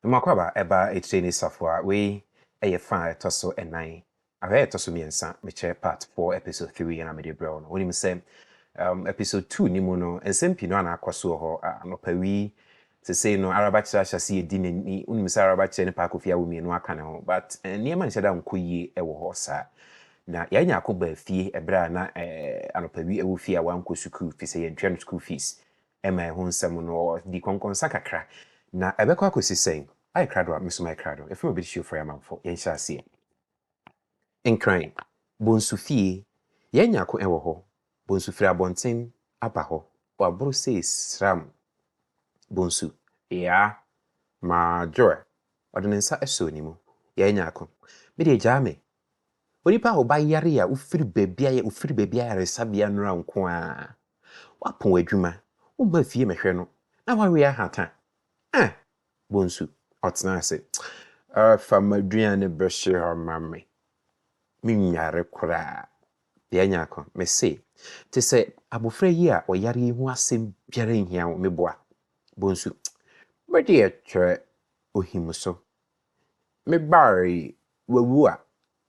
Mmoakwaaba ɛba etire ne safoa wei ɛyɛ fa a ɛtɔ so ɛnan ahwɛ a ɛtɔ so mmiɛnsa mekyerɛ part four episode three ɛna mede brɛ wo no wonim sɛ um, episode two ne mu no nsɛm pii no ana akɔ so wɔ hɔ anɔpa wi sesei no arabakyerɛ ahyɛ se yɛdi n'ani wonim sɛ arabakyerɛ ne paa kofi awo mmienu aka ne ho but eh, nneɛma nhyɛ da nkɔ yie ɛwɔ hɔ saa na yɛanya ako baa fie ɛberɛ a na eh, anɔpa wi ɛwɔ fie a wankɔ sukuu fi sɛ yɛntwɛ no school fees ɛma ɛho nsɛm no di kɔnkɔnsa kakra. Na ɛbɛkɔ akɔsi sɛn? Ayɛ krado a, mesoma yɛ krado. Ɛfiri Obeditiofoɔ yɛ amanfoɔ. Yɛn nhyɛaseɛ. Nkran, Bonsu fie. Yɛn nya ko ɛwɔ hɔ. Bonsu firi abɔnten aba hɔ. Waboro sei sram. Bonsu, Yaa! Maa Joel. Ɔde ne nsa sɔɔ ne mu. Yɛn nya ko. Me deɛ gyaa me. Onipa a ɔba yare a wofiri baabi ayɛ wofiri baabi ayaresabea nnora nko ara. Wapɔn adwuma, womma fie mmɛhwɛ no, na wawe ahata. Ah! Bonsu, ɔtena ase. Ah, fa m'aduan no bɛhye hɔ ma me. Menware koraa. Bea nyako, mese, te sɛ abofra yi a ɔyare yi ho asɛm biara nhia wo, meboa. Bonsu, bere de ɛkyerɛ ohim so, Me bar yi, wawu a,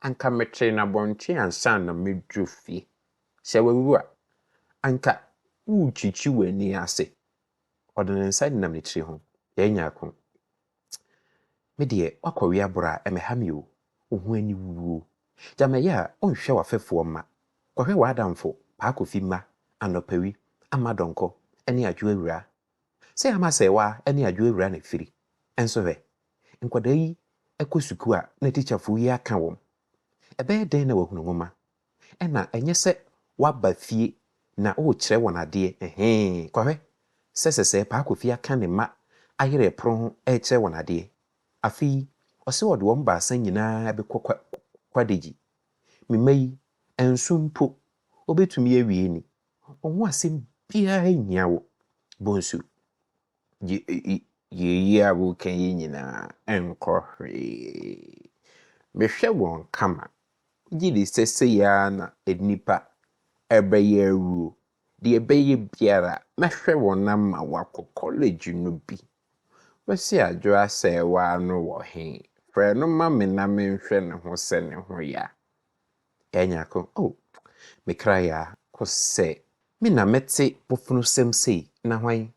anka metee no abɔnten ansa na madu fie. Sɛ wawu a, anka worekyikyi w'ani ase. Ɔde ne nsa denam ne tiri ho, yɛn nyako. Me deɛ, woakɔwe aboro a, ɛmmɛha me o, wo ho aniwuo. Gya me ɛyɛ a, wonhwɛ w'afɛfoɔ mma. Kɔhwɛ w'adamfo Paa Kofi mma, Anɔpa Wi, Ama Donkor, ne Adwoa Awuraa. Sɛ ama sɛ wa ne adwo awura ne firi nso hwɛ. Nkwadaa yi kɔ sukuu a na tikyafo yi aka wɔn. Ɛbɛyɛ dɛn na wahunu nwoma? Ɛna ɛnyɛ sɛ waba fie na ɔrekyerɛ wɔn adeɛ, ɛhee, kɔhwɛ sɛ sɛsɛɛ paa Kofi aka ne mma ayerɛ pono ho rekyerɛ wɔn adeɛ. Afei ɔse ɔde wɔn baasa nyinaa bɛkɔ kwa kwadagyi. Me mma yi, nso mpo ɔbɛtumi awie ni, Ho asɛm biara nhia wo. Bonsu, Gye eyi a woreka yi nyinaa nkɔ hwee. Mehwɛ wɔn kama, gye de sɛ sei ara na nnipa bɛyɛ awuo. Deɛ ɛbɛyɛ biara, mɛhwɛ wɔn ama wɔakɔ kɔlege no bi. Kwasi Adwo Asɛɛwaa no wɔ he? Frɛ no ma me na menhwɛ ne ho sɛ ne ho yɛ a. Ɛɛ nyako oh me kra ya ko sɛ. Me na mɛte bofunosɛm sei na hwan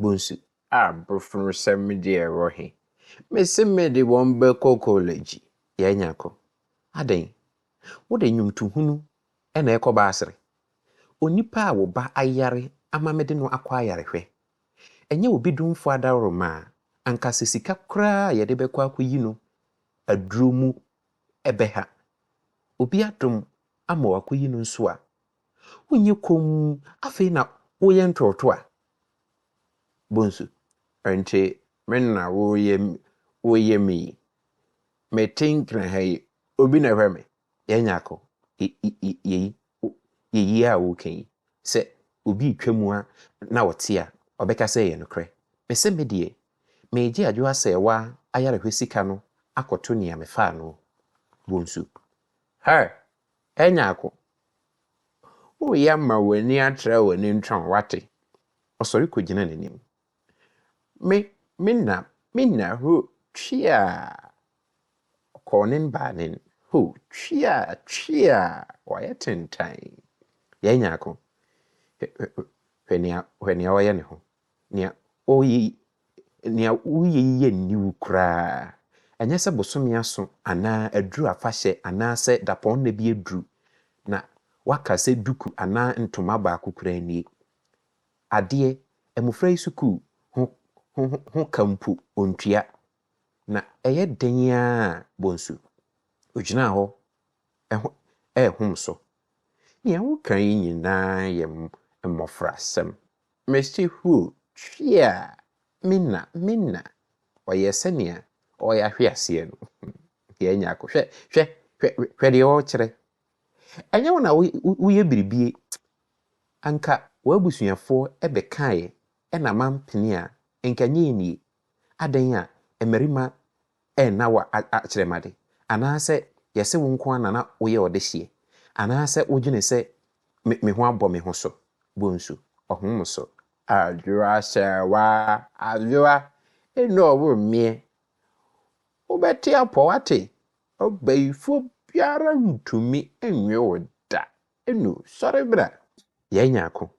bonsu. Ah bofunosɛm deɛ ɛwɔ he. Me se me de wɔn bɛkɔ kɔlɛgyi. Ɛɛ nyako adɛn wo de nwomtohunu na ɛkɔ baasere. Onipa a wo ba ayare ama mede no akɔ ayarehwɛ. Ɛnyɛ obi domfo adaworo ma a anka sɛ sika koraa a yɛde bɛkɔ akɔyi no aduro mu ɛbɛha. Obi adom ama wakɔyi no nso a, wonyɛ komm afei na woyɛ ntorɔtoɔ a, Bonsu, ɛnte me na woreyɛ me yi. Mete nkyena ha yi, obi na ɛhwɛ me. Yɛn Nyarko, yɛyi a woreka yi, sɛ obi retwam a na ɔte a, ɔbɛka sɛ ɛyɛ nokorɛ. Mese me deɛ, Meegye adwo asɛɛwa ayarehwɛ sika no akɔto nea mefaa no bonsu. Her, Ɛnyɛ ako. Woyɛ ama w'ani atra w'ani ntɔn, wate? Ɔsɔre kogyina n'anim. Me, me na, me na, ho, tweaa! Ɔkɔɔ nen baa nen, ho, tweaa, tweaa! Wayɛ tentann. Yɛanya ako. Hwɛ, hwɛ, hwɛ nea, hwɛ nea ɔyɛ ne ho. Nea ɔyɛ yi, nea woyɛ yi yɛ nni wo koraa. Ɛnyɛ sɛ bosome aso anaa aduru afahyɛ anaasɛ dapɔnna bi aduru na woaka sɛ duku anaa ntoma baako koraa nie. Adeɛ, mmofra yi sukuu ho ho ho ka mpo ontua. Na ɛyɛ den ara a, Bonsu. Ogyinaa hɔ ɛho ɛrehom so. Nea woka yi nyinaa yɛ mmofrasɛm. Mesi huu twea me na me na ɔyɛ sɛnea ɔyɛ ahwe aseɛ no yɛn nyako hwɛ hwɛ hwɛ hwɛ deɛ ɔkyerɛ ɛnyɛ wo na woyɛ biribie anka w'abusuafoɔ ɛbɛkaeɛ ɛna mampene a nka nyɛ nie adɛn a mmarima ɛ na wa a akyerɛmade, anaasɛ yɛse wo nko ara na na woyɛ ɔdehyeɛ, anaasɛ wodwene sɛ me me ho abɔ me ho so, bonsu, ɔhom mo so. Adwoa hyɛɛ wa adwoa eno ɔwo mmeɛ, wobɛte apɔ wate, ɔbayifoɔ biara ntumi nnwe wo da. Enu, sɔre bra, yɛanya ako.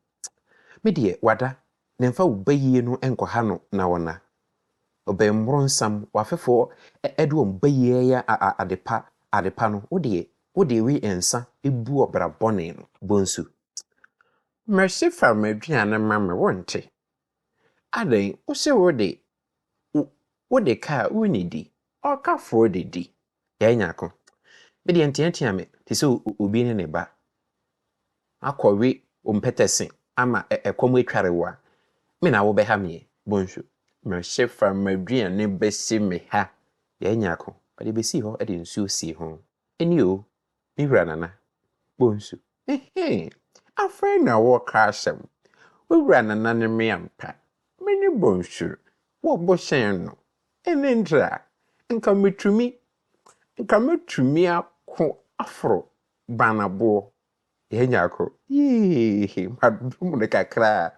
Me deɛ, wada, na mfa wo bayie no nkɔha no na ɔna. Ɔbɛn mmoronsam, w'afefoɔ de wɔn bayie reyɛ adepa, adepa no, wo deɛ, wo de we nsa bu ɔbra bɔne no. Bonsu, Mercy fa m'aduane ma me, wonte? Adɛn, wose wo de, wo, wo de ka a wonni di, ɔkafoɔ de di. Yɛanya ako. Me deɛ nteatea me te sɛ obi ne ne ba akɔwe ompɛtɛse ama ɛkɔm atware wo a, me na wobɛha meɛ, Bonsu. Mese fa m'aduane bɛsi me ha. Yɛanya ako. Ɔde bɛsii hɔ de nsuo sii ho. Ɛni o, me wura Nana. Bonsu. Ehee! Afei na wɔreka asɛm. Wo wura Nana ne me ampa. Me ne Bonsu wɔ bo sɛn no. Ɛnne ntra, nka metumi, nka mɛtumi ako aforo Banaboɔ. Yɛanya ako. Yiiiihi! Madom no kakra a,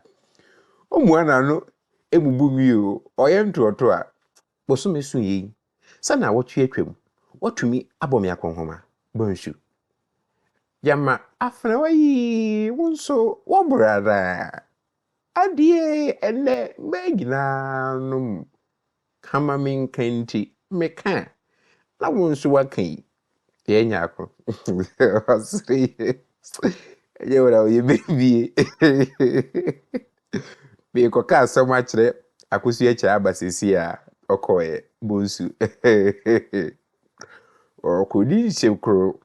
ɔmua n'ano bubu me o. Ɔyɛ ntoatoa. Bosome so yei. Sɛ naawɔtwe atwam, woatumi abɔ me akɔnhoma, Bonsu. Gyama afenawa yi, wo nso woaboro ara. Adeɛ ɛnnɛ mmaa nyinaa nom ka ma menka nti, meka a, na wo nso woaka yi, Yɛ nya ako. Ɔsere yɛ. Ɛyɛ wura o yɛ bebie. Mekɔ ka asɛm akyerɛ akosu akyerɛ aba sisi a ɔkɔɛ bonsu. Ɔkɔdi nhyɛ kuro.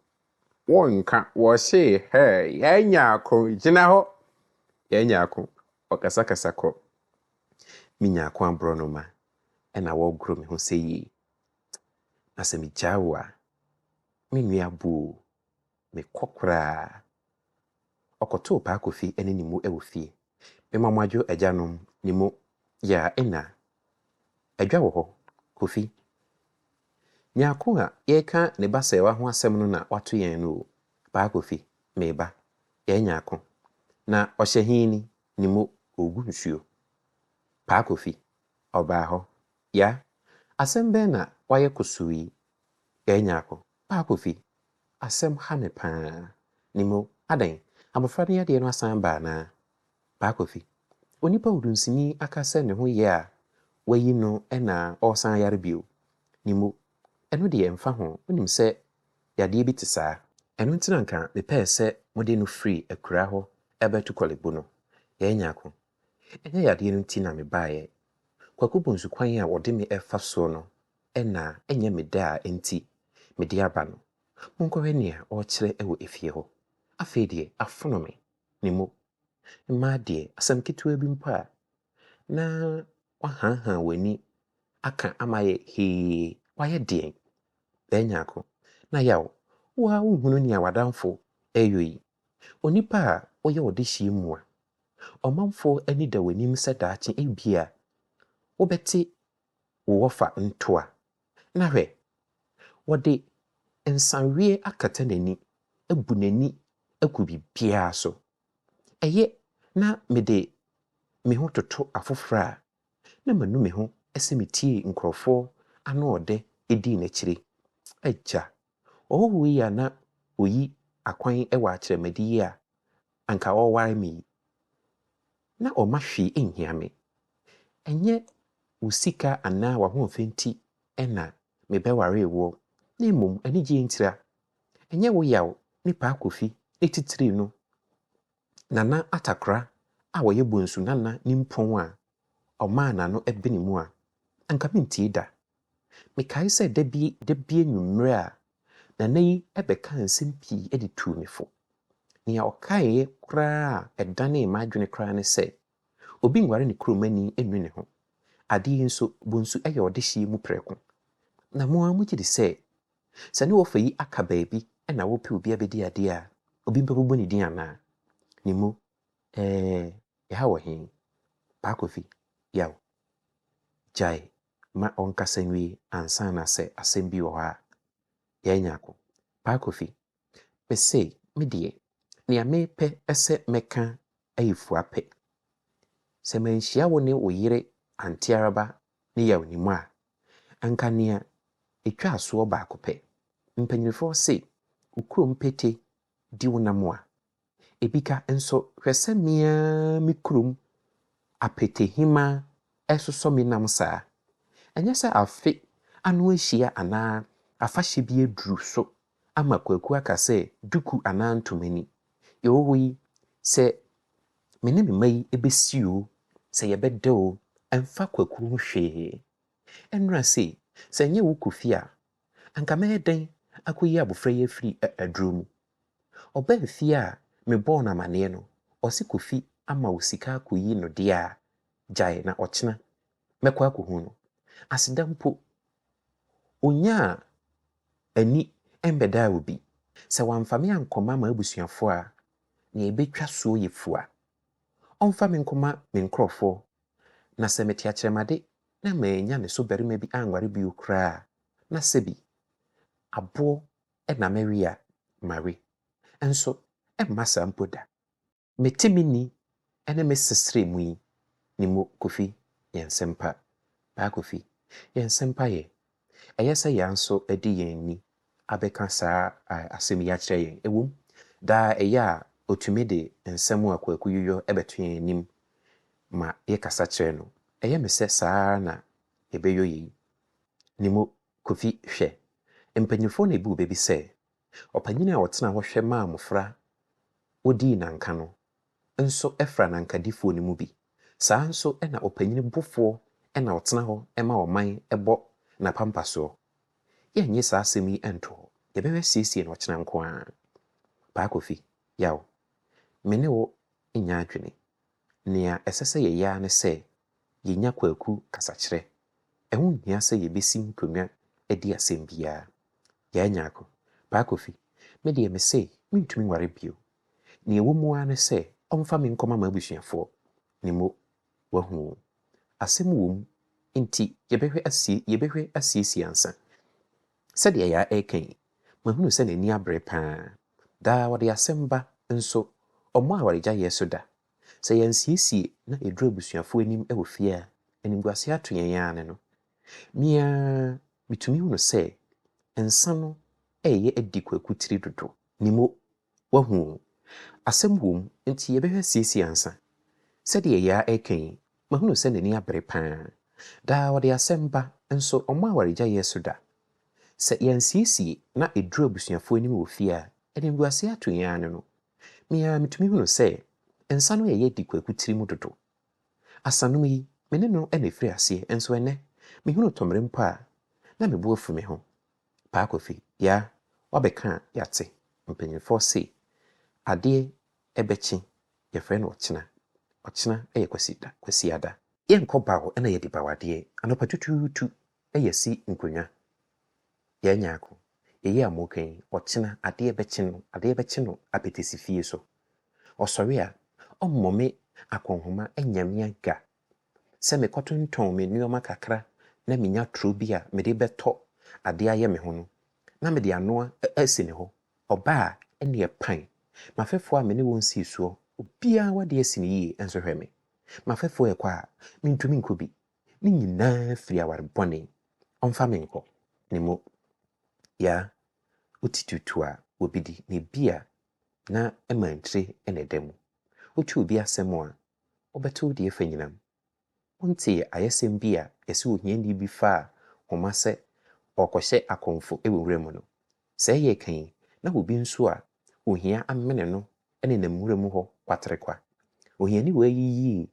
Wɔn nka wɔhyɛ hɛ yɛ nya ako gyina hɔ. Yɛ nya ako. Ɔkasakasa kɔ. Me nya ako aborɔ no ma. Ɛna wɔgoro me ho sɛ yie. Na sɛ megyaa wo a, me nua bu o, mekɔ koraa. Ɔkɔtoo Paa Kofi ne ne mu wɔ fie. Me ma moadwo agyanom ne mu yaa nna. Adwa wɔ hɔ, Kofi. Nyarko a yɛreka ne ba sɛɛwa ho asɛm no na wato yɛn no o, Paa Kofi, me ba, yɛɛ Nyarko. Na ɔhyɛ he ni, ne mu, ɔregu nsuo. Paa Kofi, ɔbaa hɔ, Ya! Asɛm bɛn na wayɛ kusuu yi? Ɛɛ Nyarko, Pa Kofi, asɛm ha me paa. Nim o, adɛn? Abɔfra no yadeɛ no asan aba anaa? Pa Kofi, Onipa odunsini aka sɛ ne ho yɛ a wayi no na ɔresan ayare bio. Nim o, ɛno deɛ ɛmfa ho, wonim sɛ yadeɛ bi te saa. Ɛno nti na anka mepɛɛ sɛ mode no firi akuraa hɔ bɛto Korle Bu no. Ɛɛ Nyarko, Ɛnyɛ yadeɛ no nti na mebaeɛ. Kwaku Bonsu kwan a wɔde me refa soɔ no na ɛnyɛ me dɛ a enti mede aba no. Monkɔhwɛ nea ɔrekyerɛ wɔ efie hɔ. Afei deɛ afono me, me mu. Mmaa deɛ, asɛm ketewa bi mpo a, na wɔahanhan wɔn ani aka ama ayɛ hee, wɔayɛ deɛn? Bɛɛnyaako, na yaw, wo ara wonhunu nea w'adamfo reyɔ yi? Onipa a woyɛ wo dehyeɛ mu a, ɔmanfoɔ ani da w'anim sɛ daakye ebia wobɛte wo wɔfa ntoa, na hwɛ, wɔde nsaweɛ akata n'ani, abu n'ani agu biribiara so. Ɛyɛ na mede me ho toto afoforɔ a, na manu me ho sɛ metiee nkurɔfoɔ anoɔdɛ dii n'akyire. Agya, Ɔhɔho yi a na oyi akwan wɔ akyerɛmadi yi a anka ɔreware me yi, na ɔmma hwee nhia me. Ɛnyɛ wo sika anaa w'ahoɔfɛ nti na mebɛwaree woɔ, na mmom anigyeɛ ntira. Ɛnyɛ wo yaw ne Paa Kofi ne titire no Nana Atakora a ɔyɛ Bonsu Nana nimpɔn a ɔmaa n'ano benee mu a, anka mentie da. Mekae sɛ da bi da bi anwummere a Nana yi bɛkaa nsɛm pii de tuu me fo. Nea ɔkaeɛ koraa a ɛdanee m'adwene koraa ne sɛ, Obi nware ne kuromani nnu ne ho. Adeɛ yi nso, Bonsu yɛ ɔdehyeɛ mu prɛko. Na mo ara mogye di sɛ Sɛ ne wɔfa yi aka baabi na wɔpɛ obi abɛdi adeɛ a, obi mpo bɛbɔ ne din anaa? Ne mu, ɛɛ, ɛha wɔ he? Paa Kofi, Yaw. Gyae ma ɔnkasa nwie ansa na sɛ asɛm bi wɔ hɔ a, yɛanya ako. Paa Kofi, Mese me deɛ, nea mepɛ sɛ mɛka yɛ fua pɛ. Sɛ manhyia wo ne wo yere Auntie Araba ne Yaw Nim a, anka nea etwaa soɔ baako pɛ. Mpanyinfoɔ se, wo kurom pete di wo nam a, Ebi ka nso, Hwɛ sɛ me ara me kurom apɛtɛhima resosɔ me nam saa! Ɛnyɛ sɛ afe ano ahyia anaa afahyɛ bi aduru so ama kwaku aka sɛ duku anaa ntoma ni. Yowoi, sɛ me ne me mma yi bɛsi oo, sɛ yɛbɛda oo, ɛmfa kwaku ho hwee. Ɛnnora sei, sɛ ɛnyɛ wo Kofi a, anka mɛyɛ dɛn akɔyi abofra yi afiri aduro mu? Ɔbaa fie a me bɔɔ no amaneɛ no ɔse Kofi ama wo sika akɔyi no deɛ a gyae na ɔkyena mɛkɔ akɔhu no. Aseda mpo ɔnyaa ani mmɛdaa obi. Sɛ wamfa me ankɔma m'abusuafoɔ a nea ɛbɛtwa soɔ yɛ fua. Ɔmfa me nkɔma me nkorɔfoɔ na sɛ mete akyerɛmade na mannya ne so barima bi anware bio koraa a na sɛbi aboɔ na Maria Mary nso mma saa mpo da. Me te me ni ne me sesrɛ mu yi ne mo Kofi yɛn sempa, Paa Kofi yɛn sempa yɛ, ɛyɛ sɛ yɛn nso ɛde yɛn ni abɛka saa asɛm yi akyerɛ yɛn, ɛwom daa ɛyɛ a ɔtumi de nsɛm a Kwaku yuyɔ bɛto yɛn anim ma yɛkasa kyerɛ no, ɛyɛ me sɛ saa ara na yɛbɛyɔ yei ne mo Kofi, Hwɛ, mpanyimfoɔ na ebuu bɛ bi sɛ ɔpanyin a ɔtenaa hɔ hwɛ maa mmofra wodii nanka no nso fra nankadifoɔ no mu bi. Saa ara nso na ɔpanyin bofoɔ na ɔtena hɔ ma ɔman bɔ n'apampasoɔ. Yɛnnye saa asɛm yi nto hɔ. Yɛbɛhwɛ siesie no ɔkyena nko ara. Paa Kofi, Yaw, me ne wo nyɛ adwene. Nea ɛsɛ sɛ yɛyɛ ara ne sɛ yenya kwaku kasakyerɛ, ɛho nhia sɛ yebesi nkonnwa adi asɛm biara. Yaa Nyarko, Paa Kofi, me deɛ mese mentumi nware bio. Nea ɛwɔ mu ara ne sɛ ɔmfa me nkɔma m'abusuafoɔ. Ne mo, wahu o. Asɛm wom, enti yɛbɛhwɛ asie, yɛbɛhwɛ asiesie ansa. Sɛdeɛ Yaa reka yi, mahunu sɛ n'ani abere paa. Daa ɔde asɛm ba, nso ɔmmɔ awaregyaeɛ so da. Sɛ yɛansiesie na eduru abusuafo anim wɔ fie a, animguase ato yɛn ara ne no. Me ara mitumi hu no sɛ nsa no reyɛ adi Kwaku tiri dodo. Ne mo, wahu o. Asɛm wom, enti yɛbɛhwɛ asiesie ansa. Sɛdeɛ yɛa reka yi, mahunu sɛ n'ani abere pa ara. Daa ɔde asɛm ba, nso ɔmmɔ awaregyaeɛ so da. Sɛ yɛansiesie na eduru abusuafo anim wɔ fie a, animguase ato yɛn ara ne no. Me ara mitumi hunu sɛ nsa no reyɛ di Kwaku tiri mu dodo. Asanom yi, me ne no na efiri aseɛ, nso ɛnnɛ, mehunu tɔmmere mpo a, na me bo afu me ho. Paa Kofi, Yaa, woabɛka a, yɛate. Mpanyimfoɔ se, Adeɛ bɛkye, yɛfrɛ no ɔkyena. Ɔkyena yɛ Kwasiada. Yɛnkɔ bawo na yɛadi bawo adeɛ anɔpa tutuutu, yɛ si nkonnwa. Yɛanya ako. Eyi a moreka yi, ɔkyena adeɛ bɛkye no, adeɛ bɛkye no apetesi fie so. Ɔsɔre a, ɔmmɔ me akɔnhoma nnya me aga sɛ mekɔtontɔn me nnoɔma kakra na menya turo bi a mede bɛtɔ adeɛ ayɛ me ho no, na mede anoa asi ne hɔ. Ɔba a, ɛnneɛ pan. M'afɛfoɔ a me ne wɔn sii soɔ, obiara w'adeɛ asi no yie nso hwɛ me. M'afɛfoɔ rekɔ a, mentumi nkɔ bi, Ne nyinaa firi aware bɔne. Ɔmfa me nkɔ ne mo ya ɔti tutu a obi di na ebi a na ɛmankyire na ɛda mu. Wotu obi asɛm a ɔbɛto deɛ ɛfa nyinam. Wontee ayɛsɛm bi a yɛse ohiani bi faa homa sɛ ɔrekɔhyɛ akɔmfo wɔ nwura mu no? Sɛɛ yɛreka yi na obi nso a ohia amene no nenam nwura mu hɔ kwaterekwa. Ohiani wei yiyii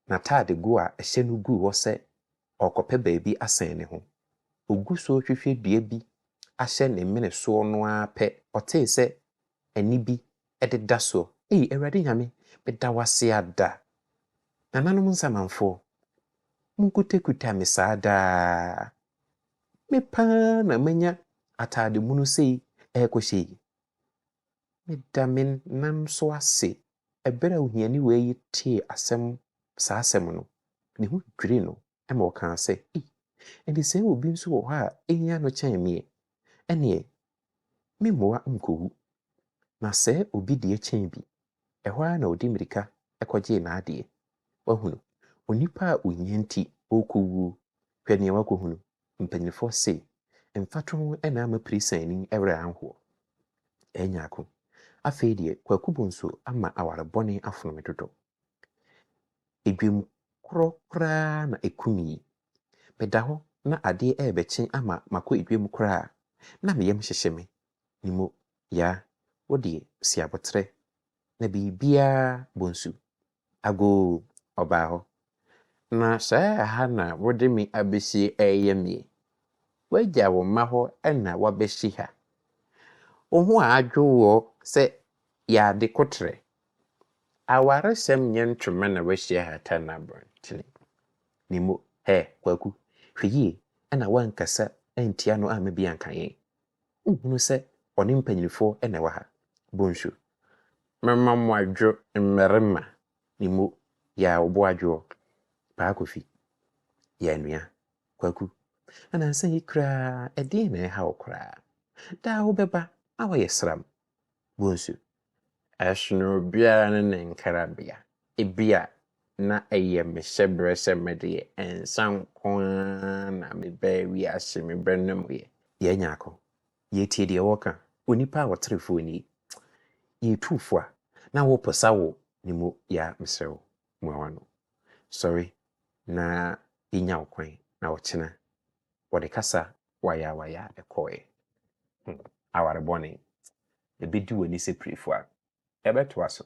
N'ataadego a ɛhyɛ no guu hɔ sɛ ɔrekɔpɛ baabi asɛn ne ho. Ogu so rehwehwɛ dua bi ahyɛ ne mene soɔ no ara pɛ, ɔtee sɛ ɛnne bi de da soɔ. Ei, Awurade Nyame, meda wo ase ada! Nananom Nsamanfoɔ, monkutakuta me saa daa! Me paa na manya ataade mono sei ɛrekɔhyɛ yi. Meda me nan so ase. Bere a ohiani wei yi tee asɛm saa asɛm no, ne ho dwirii no ma ɔkaa sɛ, Ei, ɛnde sɛ obi nso wɔ hɔ a ehia no kyɛn me ɛ, ɛnneɛ memmoa nkowu. Na sɛ obi deɛ kyɛn bi, ɛhɔ ara na ɔde mmirika kɔgyee n'adeɛ. Woahunu, onipa a ohia nti ɔrekɔwuo, hwɛ nea wakɔhunu, Mpanyimfoɔ se, Mfatoho na ama Pirisaani werɛ anhoɔ. Ɛyɛ nyaako. Afei deɛ, Kwaku Bonso ama aware bɔne afono me dodo. Edwam korɔ koraa na ɛkum yi. Meda hɔ na adeɛ rebɛkye ama makɔ edwam koraa a, na me yam hyehye me. Ne mo, Yaa, wo deɛ, si aboterɛ. Na biribiara, Bonsu, Agoo, ɔbaa hɔ. Na saa ɛha na wode me abɛsie reyɛ me yi? Woagya wo mma hɔ na woabɛsi ha? Wo ho adwo woɔ sɛ yɛade koterɛ? Awaresɛm nyɛ ntoma na woasi ahata no abɔntene. Ne mo, hɛ, Kwaku, hwɛ yie na woankasa antia no amma bi anka yɛn. Wohunu sɛ ɔne mpanyinfoɔ na ɛwɔ ha. Bonsu. Mɛma mo adwo mmarima ne mo yɛ a wɔbɔ adwoɔ. Paa Kofi. Yɛ anua. Kwaku. Anansa yi koraa ɛdeɛn na ɛreha wo koraa? Daa wobɛba na woayɛ sram. Bonsu. Ɛsono obiara ne ne nkrabea. Ebia na ɛyɛ me hyɛberɛ sɛ me deɛ, nsã nko ara na mebɛɛ wiase, mebɛnomeeɛ. Yɛanya ako. Yɛtie deɛ wɔka. Onipa a ɔtere fo nie. Yɛtu fo a, na woposa wo ne mu ya a, mesrɛ wo, mua w'ano. Sɔre na yɛnya wo kwan na ɔkyena wɔde kasa wayaawayaa kɔe. Hm, aware bɔne! Ebedi w'ani sɛ pirefua. Ɛbɛtoa so.